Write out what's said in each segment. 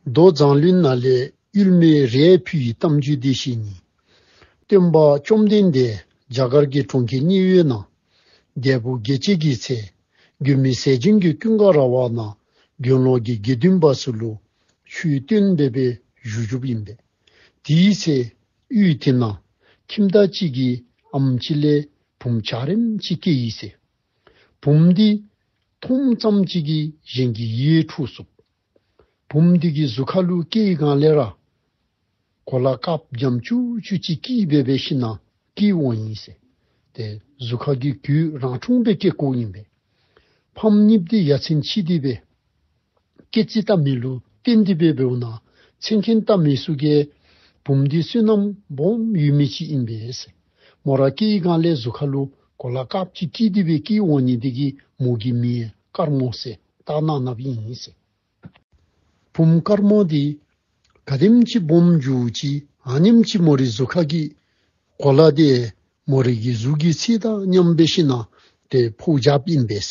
མདོ་བཟང་བློན་ནཱ་ལེནྜ་མེ་རའི་བུ་ཡི་གཏམ་རྒྱུད་སྡེ་བཞི་གཉིས། སྟོན་པ་བཅོམ་ལྡན་འདས་རྒྱ་གར་གྱི་གྲོང་ཁྱེར་གཉིས་ཡོད་ན། རྒྱལ་པོ་དགེ་བྱེད་ཀྱི་ཚེ་རྒྱུ་མི་ཟད་བྱིན་གྱི་ཀུན་དགའ་ར་བ་ན་དགེ་ལོག་གི་དགེ་འདུན་པ་སུ་ལུ་ཤུའི་སྟོན་པའི་པའི་གཞུ་བཞུགས་ཡིན་པས། དེའི་ཚེ་དབུས་དེ་ན་ཁྱིམ་བདག་གཅིག་གིས་ཨམ་ཅི་ལའི་བུམ་བྱ་རིམ་གཅིག་སྐྱེ་ཡིས། བུམ་སྡིག། མཐོང་མཚམས་གཅིག་གིས་གཞན་གྱི་ཡིད་འཁྲུགས་སོགས། བུམ་སྡིག་གི་གཟུགས་ཁ་ལུ་སྐེ་ཡི་གང་ལས་ར། གོ་ལ་སྐབས་རྒྱམ་བཅུ་བཅུ་གཅིག་སྐྱིད་སྦས་པའི་ཕྱི་ནང་གི་དབང་ཡིན། ཟས་དེ་གཟུགས་ཁ་གི་དུས་རང་འཁྲུངས་པའི་སྐྱེ་སྐོགས་ཡིན་པས། ཕམ་གཉིད་བདེ་ཡ་ཚིམ་ཕྱིས་བདེ་བའི། སྐད་ཅིག་ལྟ་མི་བསླུ་གཏན་འདི་པའི་བེའུ་ན་འཚེ་མཁན་ལྟ་མི་བསུ་ཀའི་བུམ་འདི་བསུན་ནམ་བོམ་ཡུལ་མི་གཅིག་ཡིན་པས། མོ་ར་སྐྱི་ཡི་གངས་ལས་གཟུགས་ཁ་ལུ་གོ་ལ་ཀག་ཅིག་སྐྱིད་འདི་པའི་སྐྱིའི་འོག་ཉིད་འདི་གི་མོ་གི་མིའི་དཀར་མོ་གསེ་སྟག་ནག་ནབ་ཡིན། བུམ་དཀར་མོ་འདི་ག་ནེམ་གཅིག་བོམ་རྒྱུ་གཅིག་ཨ་ནེམ་གཅིག་མོ་རི་གཟུགས་ཁ་སྐྱི་གོ་ལ་སྟེ་མོ་རི་གི་གཟུགས་ཀྱི་ཚིག་དང་མཉམ་པའི་ཤི་ན་དེ་ཕུག་ཇབ་ཡིན་པས།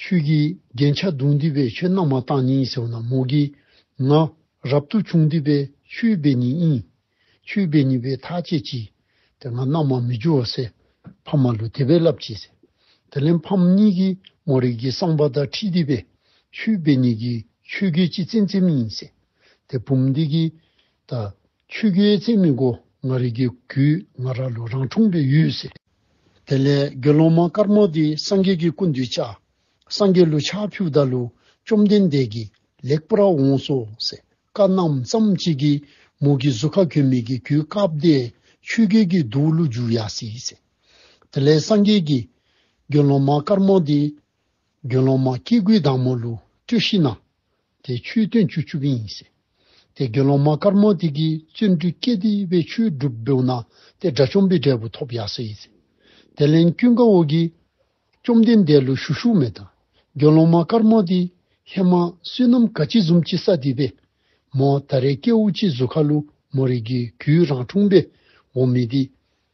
ཆོས་ཀྱི་རྒྱན་ཆ་བདུན་བསྡུས་པའི་ཆོས་རྣམས་མ་བརྟགས་སྙིང་ཟེར་བ་ན་མོ་གི་ང་རབ་ཏུ་བྱུང་བསྡུས་པའི་ཆོས་སྦས་ཉིད་དབྱིངས། ཆོས་སྦས་ཉིད་པའི་ཐག་བཅད་ཀྱིས་དེ་ང་རྣམས་མ་མི་འགྱུར་བ་སེ་ཕམ་མ་ལུས་དེ་བས་བསླབ་ཀྱིས་སེ། དེ་ལན་ཕམ་གཉིས་ཀྱིས་མོ་རིགས་ཀྱི་གསང་བ་ཟླ་ཁྲིད་བསྡུས་པའི་ཆོས་སྦས་ཉིད་ཀྱི་ཆོས་སྐད་ཅིག་ཙེམ་ཙེམ་དབྱིངས་སེ། དེ་བུམ་འདི་ཀྱི་ད། ཆོས་རྒྱུད་བརྩེགས་མི་མགོ་ང་རིག་གི་གུ་ང་ར་ལོ་རང་འཁྲུངས་པའི་ཡུལ་ཟེར། དེ་ལས་དགེ་སློང་མ་དཀར་མོ་དེ་སངས་རྒྱས་ཀྱི་སྐུ་འདུས་བྱ། སངས་རྒྱས་ལུ་ཕྱག་ཕུད་བདག་ལུ་བཅོམ་ལྡན་འདས་ཀྱིས་ལེགས་པར་འོངས་སོ་ཟེར་བཀའ་གནང་མཚམས་གཅིག་གི་མུ་གི་གཟུ་ཁ་གོན་མི་གི་གུའི་སྐབས་བདེ་ཆོས་རྒྱལ་གྱི་གདུགས་ཀླུ་བརྒྱུད་ཡ་སྲིད་ཟེར། དེ་ལས་སངས་རྒྱས་ཀྱིས། དགེ་སློང་མ་དཀར་མོ་དེ། དགེ་སློང་མ་སྐྱེ་དགུའི་བདག་མོ་ལུ་སྤྲུལ་ཤི་ན་དེ་ཆུའི་སྟོན་ཆུ་བཅུ་བཞི་ཡིན། དེ་དགེ་སློང་མ་དཀར་མོ་དེ་གིས་བརྩོན་འགྲུས་སྐྱེད་དེ་བས་ཆུའི་སྒྲུབ་སྦེའུ་ན་དེ་དགྲ་བཅོམ་པའི་འབྲས་བུ་ཐོབ་ཡག་སྲིད། དེ་ལན་བཀྱུ་འགའ་འོག་གིས། བཅོམ་ལྡན་འདས་ལུ་ཞུ་ཤུག་མེ་དང་དགེ་སློང་མ་དཀར་མོ་དེ་ཧེ་མ་བསོད་ནམས་ག་ཅི་ཟུམ་ཅི་ས་དེ་པས་མོ་ད་རེ་སྐྱེ་བོ་ཅི་བཟོད་ཁ་ལུ་མོ་རིགས་ཀྱི་གུའི་རང་འཁྲུངས་པས་འོ་མི་དེ་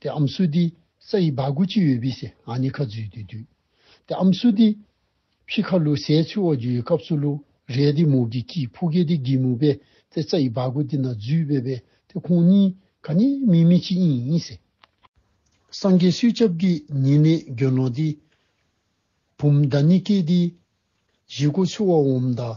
དེ་ཨམ་སུ་ཏི། ས་ཡི་བ་གུ་ཅི་ཡོད་བི་སེ་ཨ་ནི་ཁ་ཛུས་ཏི་དུས། དེ་ཨམ་སུ་ཏི། ཕྱི་ཁ་ལུ་སའི་ཚུལ་འོག་འཇུ་ཡི་སྐབས་སུ་ལུ་རའི་ཏི་མུག་གི་ཀི་ཕུ་གེ་ཏི་གི་མུག་པས་ཏེ་ས་ཡི་བ་གུ་ཏི་ན་ཛུས་བེ་བེ་ཏེ་ཁོང་གཉིས་ག་ནི་མི་མི་ཅི་ཨིན་ཨིན་སེ། སངས་རྒྱས་སུས་སྐྱབས་ཀི་ཉིད་ནི་གྱོན་ལོང་ཏི། བུམ་མདའ་ནི་ཀེ་ཏི། གཞི་གོ་ཚུལ་འོག་འོམ་མདའ་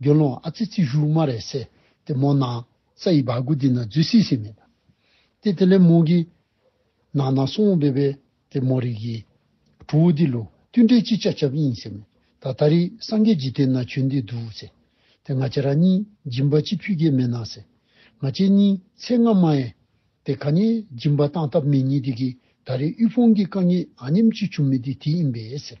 དགེ་སློང་ཨ་ཙི་ཙི་ཞུགས་མ་རེད་སེ་དེ་མོ་ན། ས་ཡི་བར་གུ་དེ་ན་རྫུས་སིག་སིག་མེད། དེ་དེ་ལས་མོ་གི། ནང་ན་སོང་སྦེ་སྦེ་དེ་མོ་རིག་གི། གྲུ་བོ་དེ་ལུག་ཏུ་འདྲེ་ཅི་ཅ་ཅབ་ཨིན་སེ་མེད། ད་ད་རི་སང་གེ་ཇི་དེ་ན་ཆོས་འདི་འདུག་སེ། དེ་ང་ཅེ་ར་གཉིས་སྦྱིན་པ་ཅི་ཕུད་ཀྱེ་མེད་ན་སེ། ང་ཅེ་གཉིས་ཚེ་སྔ་མ་ཨེ། དེ་ག་ཉེ་སྦྱིན་པ་བཏང་ཐབས་མེད་གཉིས་དེ་གི་ད་རི་དབུལ་ཕོངས་ཀྱི་དཀའ་ངལ་ཨ་ཉམས་ཅི་བྱུང་མེད་དེ་དེ་ཨིན་པས་སེ།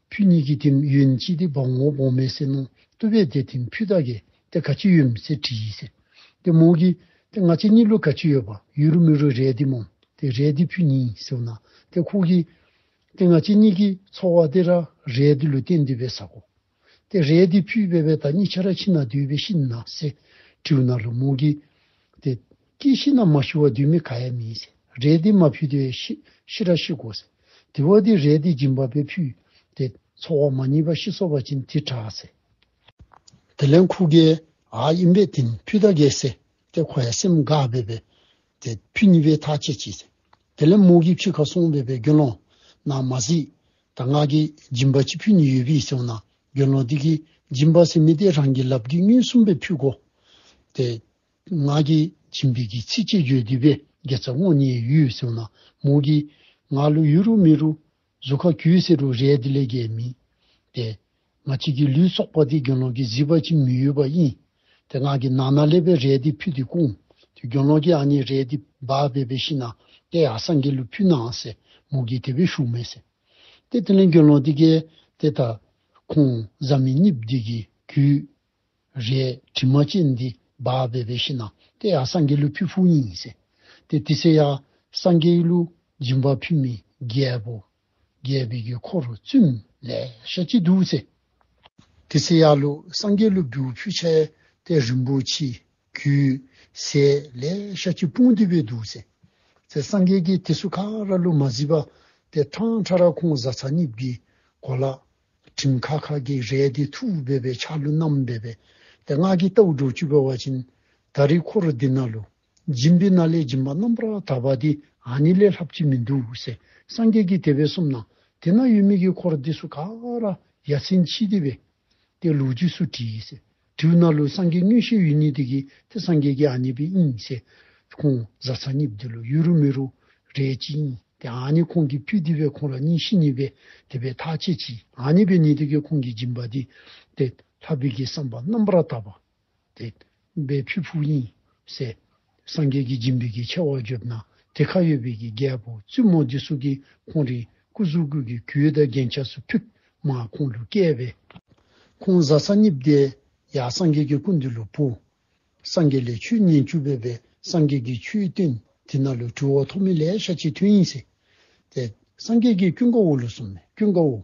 ཕུ་གཉིས་ཀྱིས་དེམ་ཡུན་ཅི་སྟེ་བང་ངོ་བོང་མའི་སེར་སྣང་ཏུ་བས་ཏེ་དེམ་ཕུ་དག་གིས་དེ་ག་ཅི་ཡོད་མི་ཚེ་དྲི་ཡིས་ཟེར། དེ་མོང་གིས་དེ་ང་ཚེ་གཉིས་ལོ་ག་ཅི་ཡོད་པ་ཡུན་རུ་མི་རུ་རས་དེ་མོང་དེ་རས་དེ་ཕུ་གཉིས་ཟེར་བ་ན་དེ་ཁོག་གིས་དེ་ང་ཚེ་གཉིས་ཀྱིས་འཚོ་བ་དེ་ར་རས་དེ་ལུས་སྟེ་འདུས་པའི་ས་གོ། དེ་རས་དེ་ཕུས་བས་བས་ད་གཉིས་ཆ་ར་ཕྱི་ན་འདུས་པའི་ཤི་ན་ཟེ་དྲིའུ་ན་རུ་མོང་གིས་དེ་ཀྱེ་ཤི་ན་མ་ཤི་བ་དུས་མི་ག་ཡ་མིན། རས་འདི་མ་ཕུད་དུས་ཤི་ར་ཤི་གོ། དེ་བ་དེ་རས་འདི་སྦྱིན་པ་པས་ཕུད། དེ་ཚོགས་བ་མ་གཉིས་པ་ཤི་སོགས་པ་བྱིན་དེ་གྲགས། དེ་ལན་ཁུ་གའི་ཨ་དབྱིན་པས་དེ་ནི་ཕུད་ད་གའི་སེ་སྟེ་ཁོ་ཡ་སེམས་དགའ་བས་པས། དེ་ཕུད་གཉིས་པའི་ཐག་ཆད་བྱས། དེ་ལན་མོ་གིས་ཕྱིར་ཁ་སོང་བས་པས་དགེ་སློང། ན་མ་གཟིགས། ད་ང་གིས་སྦྱིན་པ་ཅི་ཕུད་ནི་ཡོད་པས་སོ་ན་དགེ་སློང་དེ་གིས་སྦྱིན་པ་སེ་མི་སྟེ་རང་གིས་ལབ་དགེ་བསྙུན་གསུམ་པས་ཕུད་གོ། དེ་ངག་གིས་བྱིན་འབེབས་ཀྱི་ཚིག་ཅེས་བརྗོད་བསྡུས་པས་དགེ་རྩ་བསྔོ་ཉེས་ཡུལ་སེའུ་ན་མོ་གིས། ངག་ལུས་གཡུ་རུ་མི་རུ། གཟུགས་ཁ་གུའི་སེ་རུ་རལ་དེ་ལས་རྒྱལ་མི། ཏེ། ང་ཕྱིས་ཀྱི་ལུས་སོགས་པ་དེ་གྱོན་ལོག་གིས་བཟི་བར་ཅིས་མི་གཡོ་བ་དབྱིན། ཏེ་ངག་གི་ནང་ན་ཀླད་པའི་རལ་དེ་ཕུད་དེ་ཀུན། དེ་གྱོན་ལོག་གིས་ཨ་ནེའི་རལ་དེ་སྦ་བས་པའི་ཤི་ན། ཏེ་ཨ་སངས་ཀྱི་ལུས་ཕུད་ནའང་སེ་མོ་གིས་དེ་བས་ཤུགས་མེད་སེ། ཏེ་དེ་ལན་གྱོན་ལོག་དེ་ཀས། ཏེ་ད། ཁོང་བཟའ་མི་གཉིས་བདུད་ཀྱིས་གུས། རེད་དྲི་མ་ཅན་འདི་སྦ་བེ་བེ་ཤི་ན་ཏེ་ཡ་སངས་རྒྱས་ཀླུ་ཕུད་ཕུག་ཉིང་ངིས་སེ་ཏེ་ཏི་སེ་ཡ་སངས་རྒྱས་ཀླུ་སྦྱིན་པ་ཕུད་མི་རྒྱལ་པོ་རྒྱལ་བི་གི་འཁོར་བཙུན་ལས་ཤ་ཅི་དུ་སེ། ཏི་སེ་ཡ་ཀླུ་སངས་རྒྱས་ཀླུ་སྦུ་ཕུད་ཆ་ཡེ་ཏེ་རིན་པོ་ཆེ་གུ་སེ་ལས་ཤ་ཅི་སྤུང་དི་བེ་དུ་སེ། ཚེ་སངས་རྒྱས་ཀི་ཏི་སུ་ཁ་ར་ཀླུ་མ་ཟི་བ་ཏེ་ཁྲང་ཁྲ་ར་ཁོང་བཟའ་ཚ་ནིབ་གི་གོ་ལ་ཁྲིམས་ཁ་ཁ་གིས་རལ་གྲི་ཐུ་བོ་འབེབས་པའི་ཆ་ལུ་རྣམས་འབེབས་པས་དེ་སྔགས་ཀྱི་རྟའུ་སྒྲོ་བཅུ་པའི་བ་བྱིན། ད་རི་འཁོར་རུ་དི་ན་ལུ། སྦྱིན་པའི་སྣ་ལས་སྦྱིན་པ་རྣམ་པར་དག་པ་དེ་ཨ་ནི་ལས་ལྷ་བཅུ་མི་འདུག་སེ་སངས་རྒྱས་ཀྱི་དེ་བས་གསུམ་ན་དེ་ན་ཡུལ་མིག་གི་འཁོར་དེ་སུ་ཀ་ར་ཡ་ཚན་ཆི་དེ་བས་ཏེ་ལུགས་རྒྱུས་སུ་བྲིས། དྲིའུ་སྣ་ལུ་སངས་རྒྱས་སྙུན་གཞིའི་ཡུལ་ཉིད་དེ་གིས་དེ་སངས་རྒྱས་ཀྱི་ཨ་མྱེས་པའི་དབྱིངས་ཞེས་ཁོང་བཟའ་ཚ་སྙིབ་འདི་ལོ་ཡུལ་རུ་མི་རུ་རེད་ཅིང་དེ་ཨ་མྱེས་ཁོང་གིས་ཕུལ་དེ་བས་ཁོང་ལ་སྙིང་གཞི་གཉིས་པས་དེ་བས་ཐག་ཆེ་ཅིང་ཨ་མྱེས་པའི་ཉིད་དེ་གིས་ཁོང་གི་སྦྱིན་པ་འདི་སྟེ་ལྷ་བི་གིས་བསམ་པ་རྣམ་པར་དག་པ་དེ་བས་ཕུལ་ཕུག་དབྱིངས་ཞེས་སངས་རྒྱས་ཀྱི་སྦྱིན་པའི་གི་ཆད་བག་གྱུར་ན་དེ་ཁ་ཡོད་པའི་གི་རྒྱལ་པོ་བཙུན་མོ་འདི་སུ་གི་ཁོང་རིག་སྐུ་གཟུགས་སྐུ་གི་གུའི་བདག་རྒྱན་ཆགས་སུ་ཕུད་མ་ཁོང་ལུས་བསྐལ་པའི། ཁོང་བཟའ་ས་གཉིས་བདེ་ཡག་སངས་རྒྱས་ཀྱི་སྐུ་འདི་ལུས་བུ། སངས་རྒྱས་ལས་ཆུ་གཉིས་བཅུ་བས་པའི་སངས་རྒྱས་ཀྱི་ཆུའི་སྟེང་དེ་ན་ལུས་གྲུ་འོག་ཐོག་མི་ལས་ཤ་ཆེ་ཐུན་ཡིན་སྲིད་དེ། སངས་རྒྱས་ཀྱི་སྐྱུ་འགའ་བོ་ལུས་སོང་ནས་སྐྱུ་འགའ་བོ།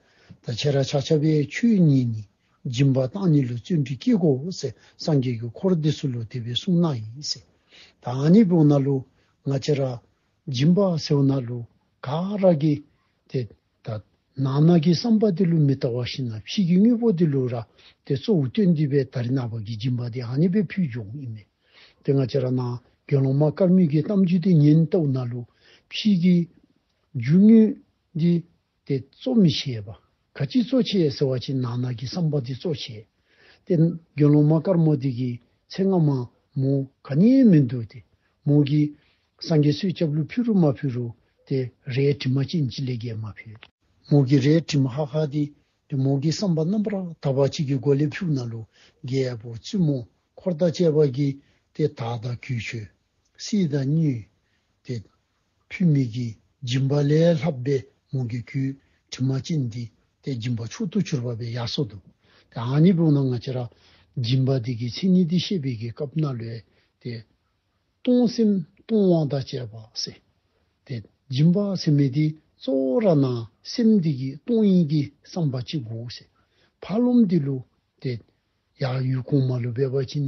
ད་ཆད་ར་ཆག་ཆ་བའི་ཆོས་ཉིད་ནི་སྦྱིན་པ་བཏང་ནི་ལུས་བཙུན་གྱི་སྐྱེ་སྒོ་འོད་གསལ་སངས་རྒྱས་ཀྱི་འཁོར་འདི་སུ་ལུས་བདེ་བའི་གསུང་སྣ་ཡིན། ད་ཨ་ནི་བོ་ན་ལུ་ང་ཆད་ར། སྦྱིན་པ་སེའུ་ན་ལུ་ག་ར་གི། དེ་ད་ན་ནགས་ཀྱི་བསམ་པ་འདི་ལུས་མི་རྟག་བ་བཞིན་ནམ་ཕྱིས་ཀྱི་དངོས་པོ་འདི་ལུས་ར་དེ་གཙོ་བོ་སྐྱོན་འདི་བས་ད་རི་ནགས་བར་གྱི་སྦྱིན་པ་འདི་ཨ་ནི་བའི་ཕུལ་བྱུང་ཡིན་མོད། དེ་ང་ཆད་ར་ན་དགེ་སློང་མ་དཀར་མོས་ཀྱི་གཏམ་རྒྱུད་འདི་ཉན་ལྟ་བུ་ན་ལུ་ཕྱིས་ཀྱི་རྒྱུ་དངོས་འདི་དེ་གཙོ་མི་བྱེད་པ། ག་ཅིས་གཙོ་བྱེད་ཟེར་བ་ཅིག་ནག་ནག་གི་བསམ་པ་འདི་གཙོ་བྱེད་དེ། དགེ་སློང་མ་དཀར་མོ་འདི་གི་ཚེ་སྔ་མ་མོ་ག་རྙེད་མི་འདུག་སྟེ། མོ་གིས། སངས་རྒྱས་སུས་སྐྱབས་ལུགས་ཕུལ་རུ་མ་ཕུལ་རུ་དེ་རའི་དྲི་མ་ཅིས་འཇིག་ལས་རྒྱལ་མ་ཕུལ། མོ་གིས་རའི་དྲི་མ་ཧ་ཧ་དེ་དེ་མོ་གིས་བསམ་པ་རྣམ་པར་དག་པ་གཅིག་གི་སྒོ་ལས་ཕུག་ན་ལུ་རྒྱལ་པོ་བཙུན་མོ་འཁོར་དང་བཅས་པ་གིས་དེ་དག་དང་གུས་ཆོས། སྲིད་དང་སྙུས། དེ། ཕུད་མིག་གི་སྦྱིན་པ་ལས་ལྷ་པདྨོ་གི་སྐུའི་དྲི་མ་ཅན་འདི་སྟེ་སྦྱིན་པ་མཆོག་ཏུ་གྱུར་པ་པའི་ཡར་སོགས་དང། དེ་ཨ་ནི་པུ་ན་ང་ཅི་ར། སྦྱིན་པ་འདི་གའི་མཚན་ཉིད་འདི་བཤད་པའི་གའི་སྐབས་ན་ལོས་ཏེ། སྟོང་སེམས་སྟོང་དབང་དང་བཅས་པ་སེ། དེ་སྦྱིན་པ་སེམས་མེད་དེ་གཙོ་བོ་ར་ན་སེམས་འདི་གའི་སྟོང་ཡིན་གྱི་བསམ་པ་ཅི་དགོས་སེ། ཕ་ལོམ་འདི་ལུགས་ཏེ། ཡང་ཡུལ་གོང་མ་ལུས་པའི་བ་བྱིན།